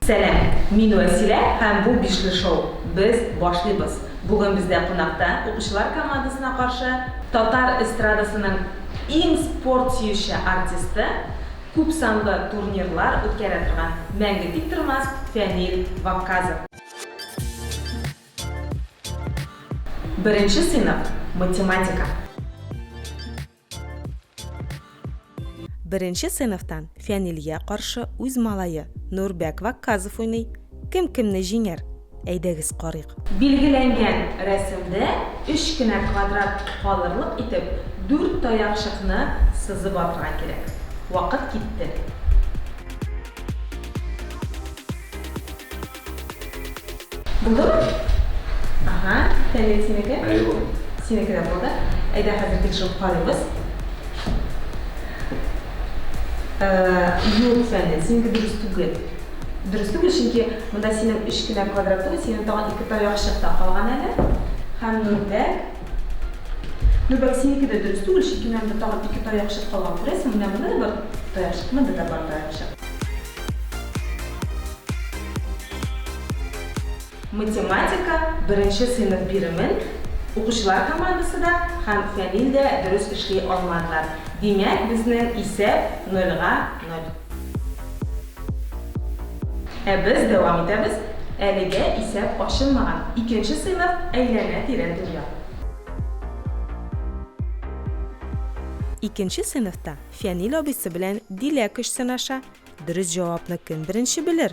Сәлам, мин Вәсилә һәм бу Бишле шоу. Без башлыйбыз. Бүген бездә кунакта укучылар командасына каршы татар эстрадасының иң спорт сөюче артисты, Күпсанлы турнирлар үткәрә торган Мәңге тиктормас Фәнил Вакказов. Беренче сыйныф, математика. Беренче сыйныфтан Фәнилгә каршы үз малае Нурбәк Вакказов уйный. Кем кемне җиңәр? Әйдәгез карыйк. Билгеләнгән рәсемдә өч кенә квадрат калырлык итеп дүрт таякчыкны сызып алырга кирәк. Вакыт китте. Булдымы? Ага, Фәнил синеке? Әйе, булды. Синеке дә булды. Әйдә хәзер тикшереп карыйбыз. Юк, Фәнил, синеке дөрес түгел. Дөрес түгел, чөнки монда синең өч кенә квадратың, синең тагын ике таякчык та калган әле. Һәм Нурбәк. Нурбәк, синеке дә дөрес түгел, чөнки менә монда тагын ике таякчык калган. Күрәсең, менә монда да бар таякчык, монда да бар таякчык. Математика беренче сыйныф биремен укучылар командасы да һәм Фәнил дә дөрес эшли алмадылар. Димәк, безнең исәп нольга ноль. Ә без дәвам итәбез, әлегә исәп ачылмаган икенче сыйныф Әйләнә-тирә дөнья. Икенче сыйныфта Фәнил абыйсы белән Дилә көч сынаша, дөрес җавапны кем беренче белер?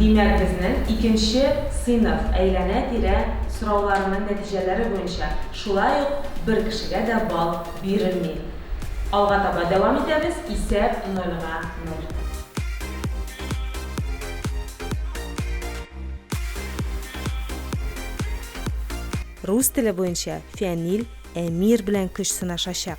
Димәк, безнең икенче сыйныф әйләнә-тирә сорауларының нәтиҗәләре буенча шулай ук бер кешегә дә балл бирелми. Алга таба дәвам итәбез, исәп нольга ноль. Рус теле буенча Фәнил Әмир белән көч сынашачак.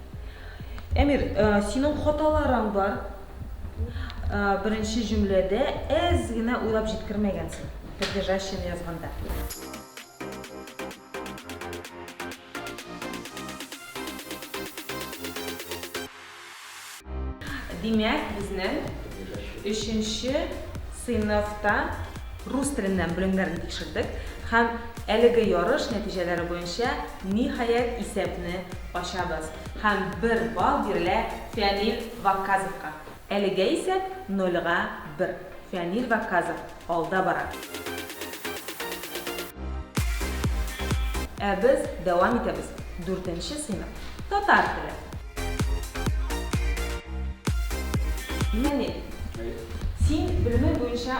Әмир, э, синең хаталарың бар. Э, беренче җөмләдә әз генә уйлап җиткермәгәнсең. Придержащин язганда. Димәк, безнең өченче сыйныфта рус теленнән белемнәрен тикшердек һәм әлеге ярыш нәтиҗәләре буенча Ниһаять исәпне ачабыз һәм бер балл бирелә Фәнил Вакказовка. Әлегә исәп нольга бер. Фәнил Вакказов алда бара. Ә без дәвам итәбез. Дүртенче сыйныф, татар теле. Фәнил, син белемең буенча.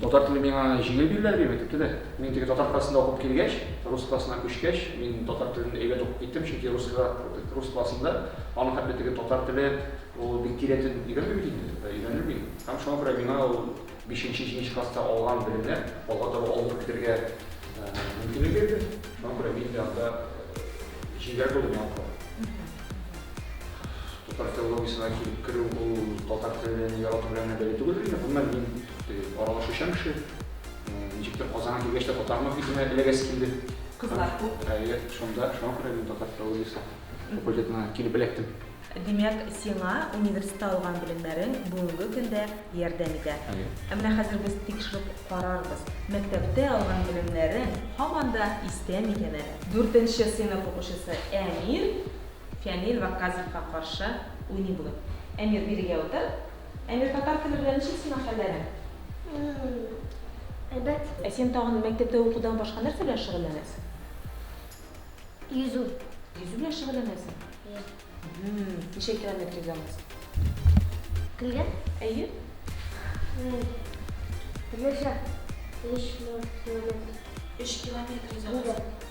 Татар теле миңа җиңел бирелә, дип әйтеп тә. Мин теге татар классында укып килгәч, рус классына күчкәч, мин татар телен әйбәт укып киттем, чөнки русскага, рус классында аны хәтта теге татар теле ул бик тирәтен өйрәнми бит инде, ә өйрәнелми. Һәм шуңа күрә миңа ул бишенче, җиденче класста алган белемнәр алга таба алынып китергә мөмкинлек бирде. Шуңа күрә мин дә анда җиңел булдым яңа кулай. Татар филологиясенә килеп керү ул татар телен ярату белән генә бәйле түгел инде. Гомумән, мин теге аралашучан кеше. Ничектер Казанга килгәч тә татармын хисенә эләгәсе килде. Кызлар күп. Әйе, шунда, шуңа күрә мин татар филологиясе факультетына килеп эләктем. Димәк, сиңа университетта алган белемнәрең бүгенге көндә ярдәм итә. Әйе. Ә менә хәзер без тикшереп карарбыз, мәктәптә алган белемнәрең һаман да истә микән әле? Дүртенче сыйныф укучысы Әмир Фәнил Вакказовка каршы уйный бүген. Әмир, бирегә утыр. Әмир, татар теле белән ничек сиңа хәлләрең? Әйбәт. Ә син тагын мәктәптә укудан башка нәрсә белән шөгыльләнәсең? Йөзү. Йөзү белән шөгыльләнәсең? Әйе. Ничә километр йөзә аласың? Көлгә? Әйе. Бернәрсә, өч километр. Өч километр йөзә аласың?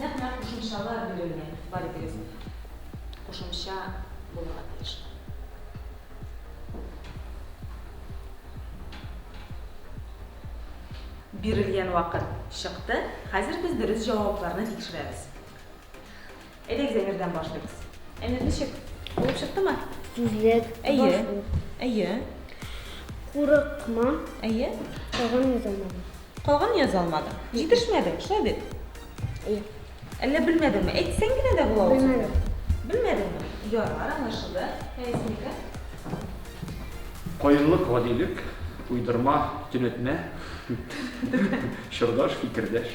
Нәкъ-нәкъ кушымчалар бирелгән бар текстта кушымча булырга тиеш. Бирелгән вакыт чыкты, хәзер без дөрес җавапларны тикшерәбез. Әйдәгез әйбердән башлыйбыз. Әйбер ничек? Булып чыктымы? Сүзлек. Әйе. Әйе. Курыкма. Әйе. Калган яза алмадым. Калган яза алмадым. Җитешмәде, шулай бит? Әйе. Әллә белмәдеңме? Әйтсәң генә дә була ул. Белмәдем. Белмәдеңме? Ярар, аңлашылды. Әйсенеке? Каенлык, гадилек, уйдырма, төнәтмә, чордаш, фикердәш.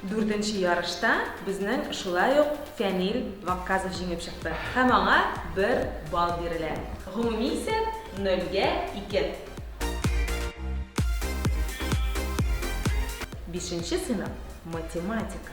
Дүртенче ярышта безнең шулай ук Фәнил Вакказов җиңеп чыкты һәм аңа бер балл бирелә. Гомуми исәп, нольгә ике. Бишенче сыйныф, математика.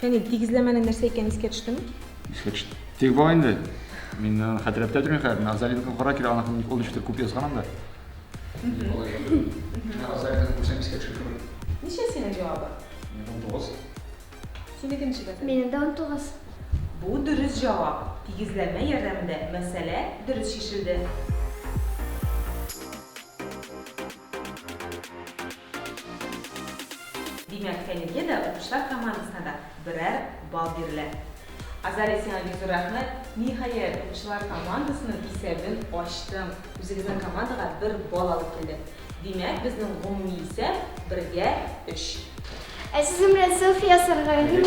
Фәнил, тигезләмәнең нәрсә икәнен искә төштеме? Искә төште. Тик бар инде. Мин э, хәтерләп тә тормыйм хәзер. Назалинка кара килә, аны ул ничектер күп язган анда. Назалинка күрсәм искә төшеп кебек. Ничә синең җавабы? Минем 19. Синеке ничәдә? Минем дә 19. Бу дөрес җавап. Тигезләмә ярдәмендә мәсьәлә дөрес чишелде. Димәк, әлегә дә укучылар командасына да берәр балл бирелә. Азалия, сиңа бик зур рәхмәт. Ниһаять, укучылар командасының исәбен ачтың, үзегезнең командага бер балл алып килдең. Димәк, безнең гомуми исәп, бергә, өч. Ә сезнең белән селфи ясарга ярыймы?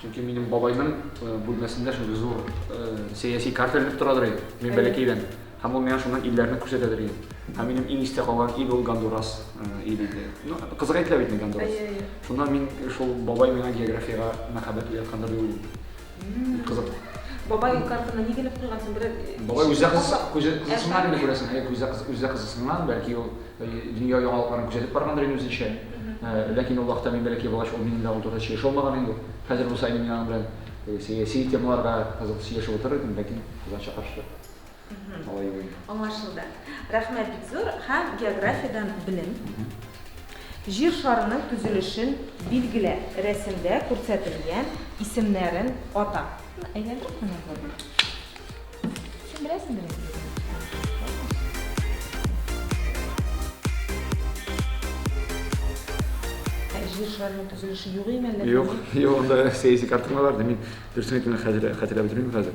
Чөнки минем бабайның бүлмәсендә шундый зур сәяси карта элеп торадыр иде. Мин бәләкәйдән. Һәм ул миңа шуннан илләрне күрсәтәдер иде. Һәм минем иң истә калган ил ул Гондурас ил иде. Ну, кызык әйтелә бит инде Гондурас. Шуннан мин шул бабай миңа географиягә мәхәббәт уяткандыр дип уйлыйм. Бик кызык. Бабай картына ни генә куйгансың, берәр Бабай үзе кыз күзе кызысыннан генә күрәсең, әйе, күзе кыз үзе кызысыннан, бәлки ул дөнья яңалыкларын күзәтеп баргандыр инде үзенчә. Ләкин ул вакытта мин бәләкәй булгач, ул минем дә аудиторда сөйләшә алмаган инде. Хәзер булса, мин аның белән сәяси темаларга кызык сөйләшеп утырыр идем, ләкин кызганча каршы. алай уйлыйм. Аңлашылды. Рәхмәт бик зур һәм географиядән белем. Җир шарының төзелешен билгелә, рәсемдә күрсәтелгән исемнәрен ата. Әйләндереп кенә күр. Син беләсеңдер инде бит моны. Ә Җир шарының төзелеше юк име әллә? Юк, юк, анда сәяси картиналар да мин дөресен әйткәндә хәтерләп бетермим хәзер.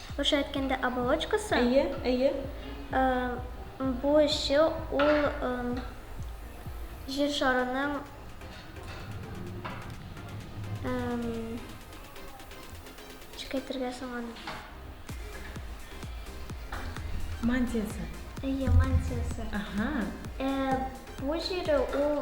Русча әйткәндә, оболочкасы. Әйе, әйе. Бу эше ул Җир шарының ничек әйтергә соң аны? Мантиясе. Әйе, мантиясе. Бу җире ул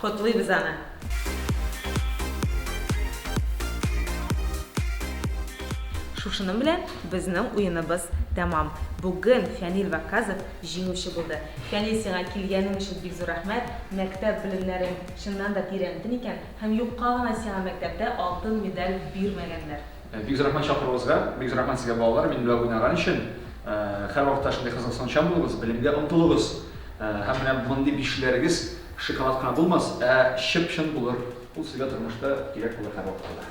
Котлыйбыз аны! Шушының белән безнең уеныбыз тәмам. Бүген Фәнил Вакказов җиңүче булды. Фәнил, сиңа килгәнең өчен бик зур рәхмәт. Мәктәп белемнәрен чыннан да тирәнтен икән һәм юкка гына сиңа мәктәптә алтын медаль бирмәгәннәр. Бик зур рәхмәт чакыруыгызга. Бик зур рәхмәт сезгә балалар, минем белән уйнаган өчен. Һәрвакытта шундый кызыксынучан булыгыз, белемгә омтылыгыз. Һәм менә мондый бишләрегез шоколад кына булмас, ә чып-чын булыр. Ул сезгә тормышта кирәк булыр һәрвакытта да.